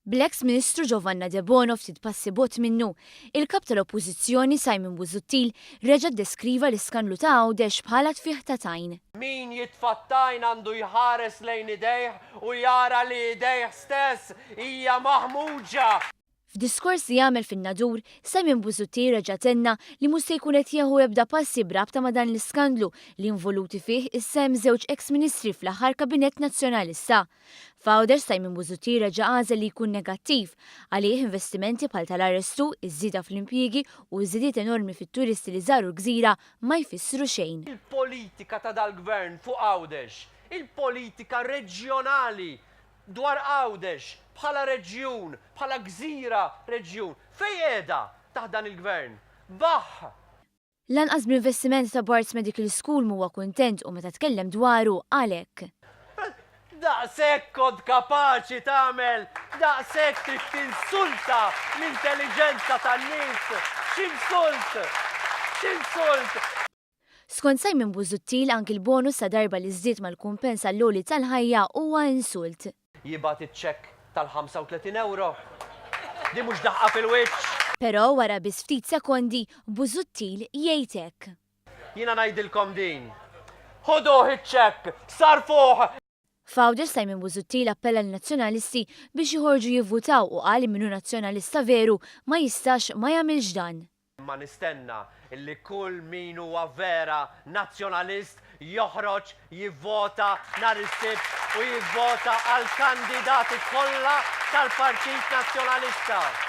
Bl-eks Ministru Giovanna Debono ftit passi bogħod minnu, il-Kap tal-Oppożizzjoni Simon Busuttil reġa' ddeskriva l-iskandlu ta' Għawdex bħala tfigħ ta' tajn. Min jitfa' t-tajn għandu jħares lejn idejh u jara li idejh stess hija maħmuġa! F'diskors li għamel fin-Nadur, Simon Busuttil reġa' tenna li mhux se jkun qed jieħu ebda passi b'rabta ma' dan l-iskandlu li involuti fih is-sehem żewġ eks ministri fl-aħħar kabinett Nazzjonalista. F'Għawdex Simon Busuttil reġa' għażel li jkun negattiv. Għalih investimenti bħal tal-arrestu, iż-żieda fl-impjiegi u ż-żidiet enormi fit-turisti li żaru l-gżira ma jfissru xejn. Il-politika ta' dal-Gvern fuq Għawdex, il-politika reġjonali Dwar Għawdex bħala reġjun, bħala gżira reġjun, fejn qiegħda taħt dan il-Gvern? Baħħ! Lanqas bl-investiment ta' Barts Medical School m'huwa kuntent u meta tkellem dwaru qal hekk. Daqshekk kont kapaċi tagħmel, daqshekk trid tinsulta l-intelliġenza tan-nies, x'insult! X'insult! Skont Simon Busuttil anki l-bonus ta' darba li żdied mal-kumpens għall-għoli tal-ħajja huwa insult. Jibgħat iċ-ċekk tal-35 ewro? Din mhux daħqa fil-wiċċ? Però wara biss ftit sekondi, Busuttil jgħid hekk. Jiena ngħidilkom din. Ħuduh iċ-ċekk! Sarrfuh! F'Għawdex Simon Busuttil appella lin-Nazzjonalisti biex joħorġu jivvutaw u qal li min hu Nazzjonalista veru ma jistax ma jagħmilx dan. Imma nistenna li kull min huwa vera Nazzjonalist joħroġ jivvota nhar is-Sibt u jivvota għall-kandidati kollha tal-Partit Nazzjonalista.